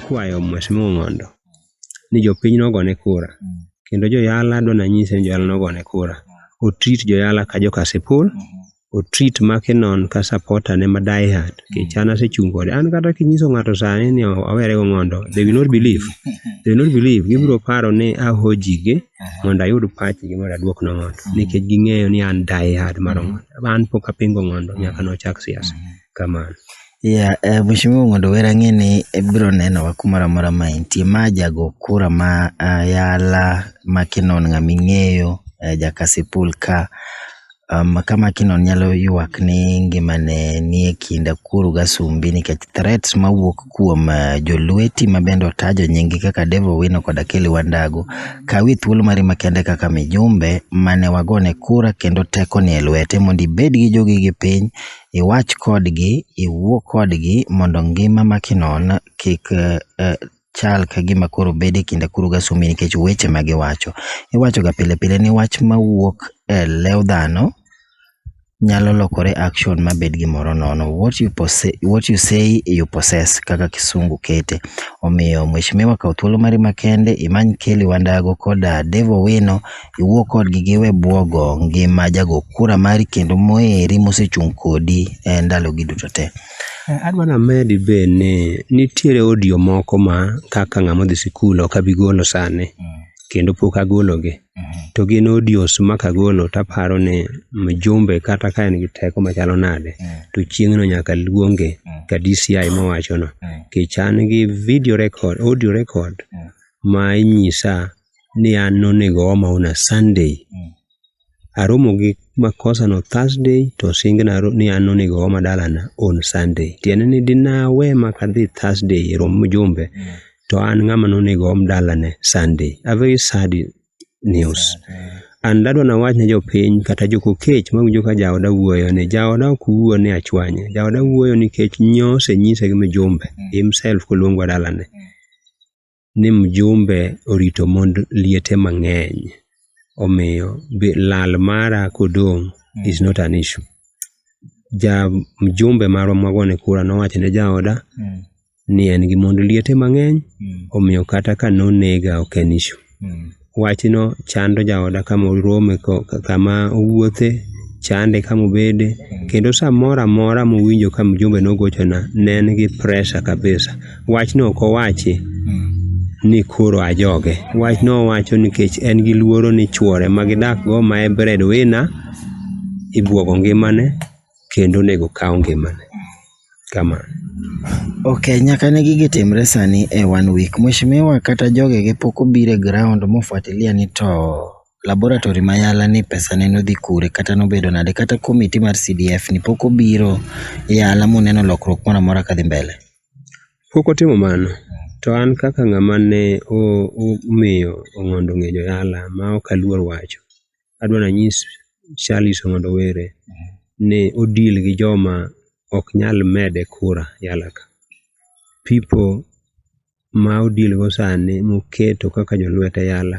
kwayo Mheshimiwa Ng'ondo ni jopiny nogone kura kendo joyala dwa nanyise ni joyala nogone kura otrit joyala ka joka Sipul o treat Mackinon ka supporter ne ma die hard nikech an asechung' kode. An kata kinyiso ng'ato sani ni awere go ng'ondo, they will not believe. They will not believe. Gibiro paro ni ahojige mondo ayud pachgi mondo aduok no ng'ondo nikech ging'eyo ni an die hard mar ng'ondo. An pok apingo ng'ondo nyaka nochak siasa. Kamano. Yeah, eh, Mheshimiwa mondo wera ng'e ni ibiro nenowa kumoro amora ma intie. Ma jago kura ma ah, yala ma kinon ng'ama ing'eyo eh, jakasipul ka um, kama kinon nyalo ywak ni ngimane nie kinda kuru gasumbi nikech threats mawuok kuom eh, jolweti ma bende otajo nyingi kaka Dave Owino koda Kelly Wandago kawi thuolo mari makende kaka mijumbe mane wagone kura kendo teko nie lwete mondo ibed gi jogi gi piny iwach kodgi, iwuo kodgi mondo ngima ma kinon kik chal ka gima koro bedo e kinda kuru gi Asumbi nikech weche ma giwacho. Iwachoga pile pile ni wach ma wuok e lew dhano nyalo lokore action ma bed gimoro nono. What you what you say you possess kaka kisungu kete. Omiyo mweshimiwa kaw thuolo mari makende imany Kelly Wandago koda Dave Owino. iwuo kodgi giwe bwogo ngima jago kura mari kendo moheri mosechung' kodi e ndalogi duto te. Adwa namedi be ni nitiere audio moko ma kaka ng'ama odhi sikul ok abi golo sani kendo pok agologi. To gin audios ma kagolo taparo ni mjumbe kata ka en gi teko machalo nade to chieng'no nyaka luonge ka DCI mowachono. Nikech an gi video record, audio record ma inyisa ni an nonego oma on a Sunday. Mm. Aromo gi makosa no Thursday to singe na ni an nonego oma dalana on Sunday. Tiende ni dinawe makadhi Thursday e romo mjumbe mm. to an ng'ama nonego om dalane Sunday. A very sad news. Mm. An dadwa na wach ne jopiny kata jokokech mawinjo ka jaoda wuoyo ni jaoda ok wuo ni achwanye. Jaoda wuoyo nikech nyose nyise gi mjumbe mm. himself koluongwa dalane. Mm. ni mjumbe orito mond liete mang'eny omiyo be- lal mara kodong' is not an issue ja mjumbe marwa mwagone kura nowacho ne jaoda Mm. ni en gi mond liete mang'eny Mm. omiyo kata ka nonega ok en issue Mm. wachno chando jaoda kama orome ko- kama owuothe chande kama obede kendo samoro amora mowinjo ka mjumbe nogochona ne en gi pressure kabisa wachno ok owachi ni koro ajoge wachno owacho nikech en gi luoro ni chuore ma gidakgo ma e breadwinner ibwogo ngimane kendo onego kaw ngimane kama. Ok, nyaka ne gigi timre sani e one week. Mweshimiwa kata jogege pok obiro e ground mofuatilia ni to laboratory ma yala ni pesa ne nodhi kure kata nobedo nade kata committee mar CDF ni pok obiro yala moneno lokruok moro amora kadhi mbele. Pok otimo mano. To an kaka ng'ama ne omiyo Ong'ondo ng'ejo yala ma ok aluor wacho, adwa ni anyis Shaliso mondo owere ni o deal gi joma ok nyal mede kura yalaka. People ma o deal go sani moketo kaka jolwete yala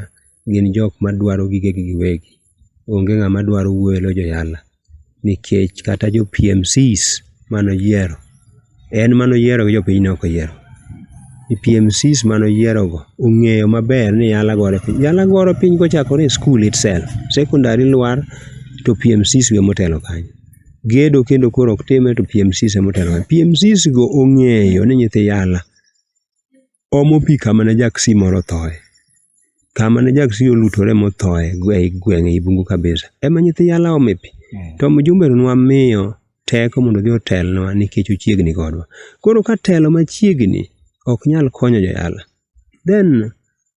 gin jok madwaro gigegi giwegi. Onge ng'ama dwaro wuoyo e lo joyala. nikech kata jo PMCs mane oyiero en mane oyiero gi jopiny ne ok oyiero. Jo PMCs mane oyiero go ong'eyo maber ni yala gore piny. Yala gore piny kochakore e skul itself. Sekondari lwar to PMCs be ema otelo kanyo. Gedo kendo koro ok time to PMCs ema otelo kanyo. PMCs go ong'eyo ni nyithi yala omo pi kama ne jaksi moro othoye. Kama ne jaksi olutore mothoye ei gweng' ei bungu kabisa. Ema nyithi yala ome pi. Hmm. To mjumbe nwa miyo teko mondo odhi otelnwa nikech ochiegni kodwa. Koro ka telo machiegni ok nyal konyo joyala, then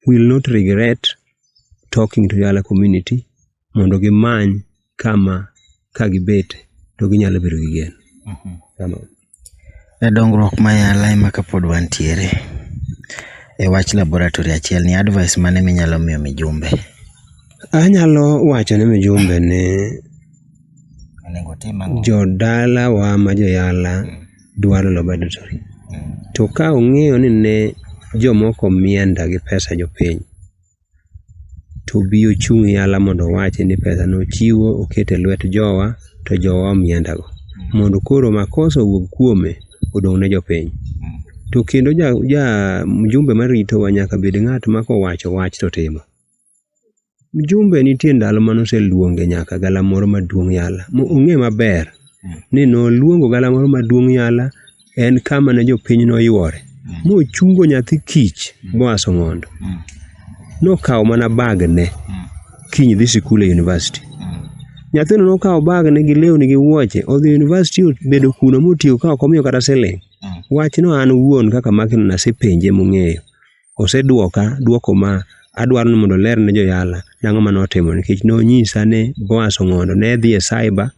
will not regret talking to Yala community mondo gimany kama ka gibet to ginyalo bedo gi geno. Kama. E dongruok ma yala ema kapod wantiere e wach laboratory achiel ni advice mane minyalo miyo mijumbe Anyalo wacho ne mijumbe ni onego otim ang'o? jodalawa ma joyala dwaro laboratory. To ka ong'eyo ni ne jomoko mienda gi pesa jopiny, to obi ochung' yala mondo owachi ni pesa no ochiwo oket e lwet jowa to jowa omenda go. Mondo koro makosa owuog kuome odong' ne jopiny. To kendo ja, ja mjumbe maritowa nyaka bed ng'at ma kowacho wach to timo. Mjumbe nitie ndalo mane oseluonge nyaka galamoro maduong' yala. Mo- Ong'e maber ni noluongo galamoro maduong' yala en kama ne jopiny noywore mochungo nyathi kich Boaz Ong'ondo nokawo mana bagne kiny dhi sikul e university nyathino nokawo bagne gi lewni gi wuoche odhi university obedo kuno motiyo ka ok omiyo kata siling wachno an wuon kaka makino nasepenje mong'eyo osedwoka dwoko ma adwaro ni mondo oler ne joyala nang'o ma notimo nikech nonyisa ni Boaz Ong'ondo ne dhi e cyber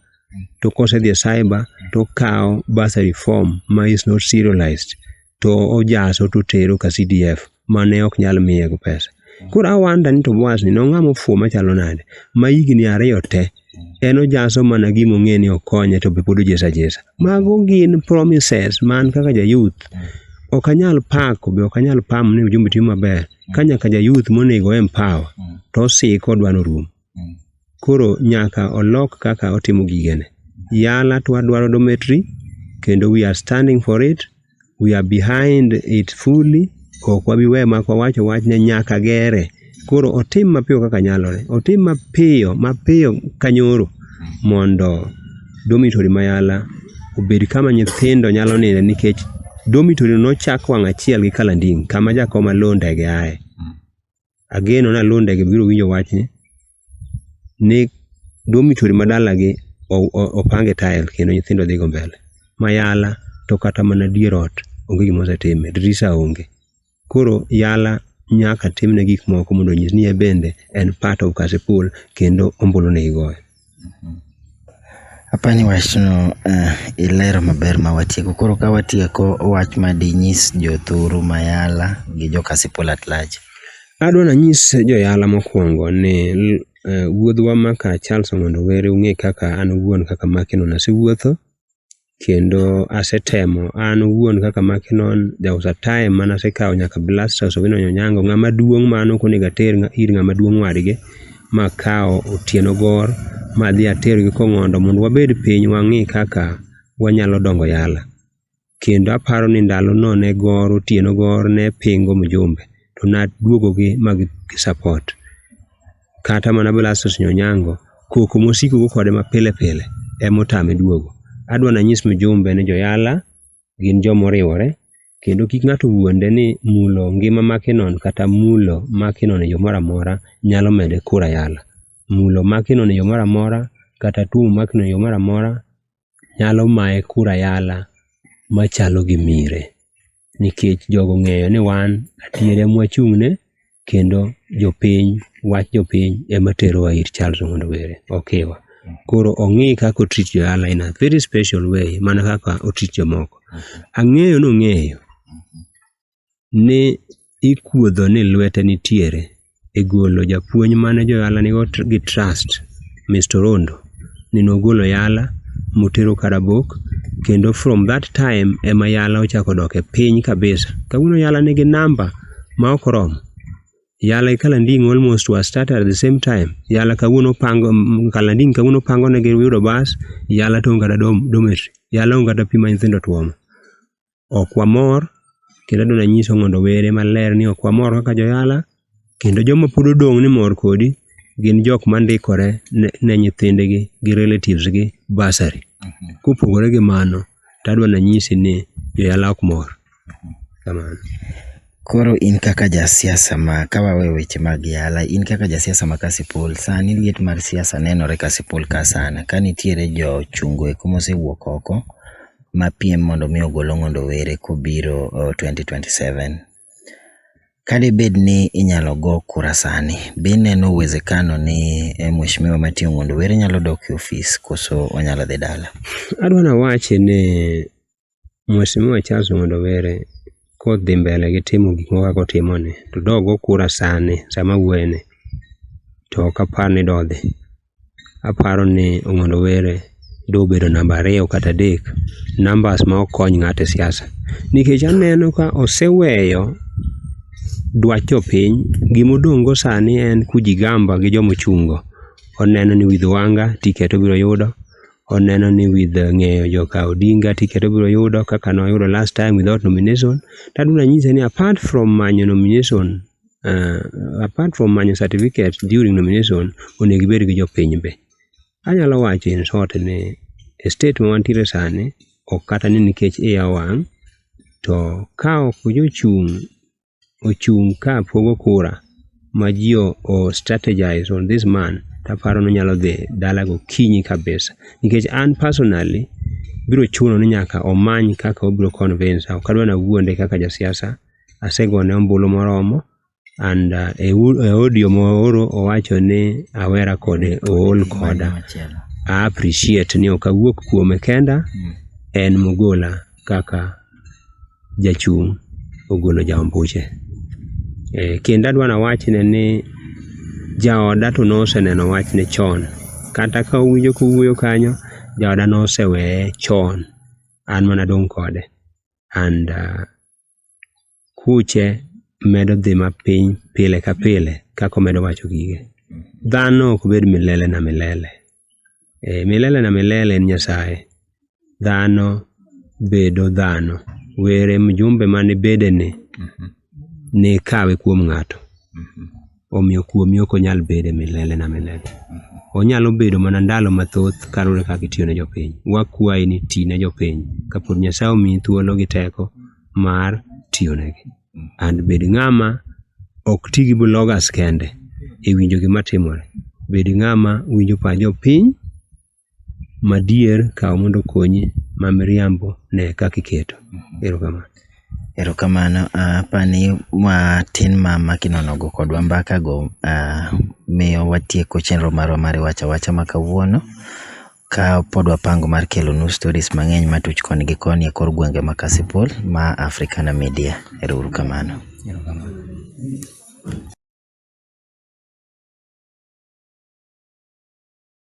to kosedhi e cyber to okawo bursary form ma is not serialized to ojaso to otero ka CDF mane ok nyal miye go pesa. Koro awanda ni to Boaz ni nong'ama ofuwo machalo nade ma higni ariyo te en ojaso mana gima ong'e ni okonye to be pod ojesa jesa. Mago gin promises man kaka ja youth ok anyal pako be ok anyal pamo ni ujumbe timo maber ka nyaka ja youth monego empower to osiko odwa ni orum. Koro nyaka olok kaka otimo gigene. Yala to wadwaro dometri kendo we are standing for it. We are behind it fully. Ok wabi we mak wawacho wachne nyaka gere. Koro otim mapiyo kaka nyalore. Otim mapiyo mapiyo kanyoro mondo dormitory ma Yala obed kama nyithindo nyalo ninde nikech dormitory nochak wang' achiel gi Kalanding' kama jakoma low ndege aye. ageno ni aluo ndege biro winjo wachni ni dormitory ma dalagi opange tile kendo nyithindo dhigo mbele. Ma yala to kata mana dier ot onge gima osetime, dirisa onge. Koro yala nyaka timne gik moko mondo onyis ni en bende en part of Kasipul kendo ombulu ne igoyo. Apani wachno eh, ilero maber ma watieko. Koro ka watieko wach ma dinyis jothuru mayala gi jokasipul at large. Adwa nanyis joyala mokwongo ni l- eh, wuodhwa maka Charles Ong'ondo Were ung'e kaka an owuon kaka Makino nasewuotho kendo asetemo an owuon kaka Makinon, there was a time mane asekawo nyaka Blastus Owinonyi Onyango, ng'ama duong' ma an ok onego ater ir ng'ama duong' wadgi, makawo Otieno Gor madhi atergi Kong'ondo mondo wabed piny wang'i kaka wanyalo dongo yala. Kendo aparo ni ndalono ne Gor, Otieno Gor ne pingo mjumbe to naduogogi ma gi support. kata mana Blastus Onyango, koko mosiko go kode mapile pile ema otame duogo. Adwa nanyis mjumbe ni joyala gin joma oriwore kendo kik ng'ato wuonde ni mulo ngima Makinon kata mulo Makinon e yo moro amora nyalo mede kura yala. Mulo Makinon e yo moro amora kata tuomo Makinon e yo moro amora nyalo maye kura yala machalo gi mire nikech jogo ng'eyo ni wan adier ema wachung'ne kendo jopiny wach jopiny ema terowa ir Charles Ong'ondo Were okiwa. Koro ong'i kaka otreat jo yala in a very special way mana kaka otreat jomoko. Ang'eyo ni ong'eyo ni ikuodho ni lwete nitiere e golo japuonj mane joyala nigo tr- gi trust Mr. Rondo ni nogolo yala motero Karabok kendo from that time ema yala ochako dok e piny kabisa. Kawuono yala nigi namba ma ok oromo. Yala gi Kalanding almost was started at the same time. Yala kawuono pango mm, Kalanding kawuono pango ne gi yudo bas, yala to onge kata dom- dormitory. Yala onge kata pi ma nyithindo tuomo. ok wamor kendo adwa nanyiso mondo owere maler ni ok wamor kaka joyala kendo joma pod odong' ni mor kodi gin jok mandikore ne, ne nyithindgi gi relatives gi basari kopogore gi mano to adwa nanyisi ni joyala ok mor kamano Koro in kaka ja siasa ma ka wawe weche mag yala, in kaka ja siasa ma Kasipul, sani liet mar siasa nenore Kasipul ka sana. Ka nitiere jo chungo eko mosewuok oko ma piem mondo mi ogol Ong'ondo Were kobiro twenty twenty seven. Ka debed ni inyalo go kura sani, be ineno uwezekano ni Mheshimiwa Martin Ong'ondo Were nyalo dok e ofis koso onyalo dhi dala? Adwa nawachi ni Mheshimiwa Charles Ng'ondo Were kodhi mbele gi timo gik moko kaka otimoni to dogo kura sani sama awuoyeni to ok apar ni dodhi. Aparo ni Ong'ondo Were dobedo namba ariyo kata adek, numbers ma ok kony ng'ato e siasa. Nikech aneno ka oseweyo dwach jopiny, gima odong' go sani en kujigamba gi joma ochung' go. Oneno ni with Wanga ticket obiro yudo, oneno ni with uh, ng'eyo joka Odinga tiket obiro yudo kaka noyudo last time without nomination tadu nanyise ni apart from manyo nomination uh, apart from manyo certificate during nomination onego ibed gi jopiny be anyalo wacho in short ni e state ma wantiere sani ok kata ni nikech iya wang' to ka ok jochung' ochung' ka pogo kura ma ji o strategize on this man taparo ni onyalo dhi dala gokinyi kabisa nikech an personally biro chuno ni nyaka omany kaka obiro convince ok adwa na wuonde kaka jasiasa asegone ombulu moromo and uh, e u- e audio mooro owacho ni awera kode ool koda a appreciate ni ok awuok kuome kenda en mogola kaka jachung' ogolo jaombuche. E, kendo adwa nawachne ni jaoda to noseneno wachne chon kata ka owinjo kowuoyo kanyo jaoda noseweye chon an mana dong' kode and uh, kuche medo dhi mapiny pile ka pile kaka omedo wacho gige. Dhano ok bed milele na milele. Eh, milele na milele en Nyasaye. Dhano bedo dhano. Were mjumbe mane bedene nikawe kuom ng'ato. omiyo kuomi ok onyal bedo e milele na milele. Onyalo bedo mana ndalo mathoth kaluwore kaka itiyo ne jopiny. Wakwayi ni ti ne jopiny kapod Nyasaye omiyi thuolo gi teko mar tiyonegi. And bed ng'ama ok ti gi bloggers kende e winjo gima timore. Bed ng'ama winjo pach jopiny madier kaw mondo okonyi, ma miriambo ne kaka iketo. Erokamano. Erokamano, uh, apani matin ma maki nonogo kodwa mbaka go uh, miyo watieko chenro marwa mar wacha wacha ma kawuono ka pod wapango mar kelo nu stories mang'eny matuch koni gi koni e kor gwenge ma Kasipul ma Africana Media. Ero uru kamano. Erokamano.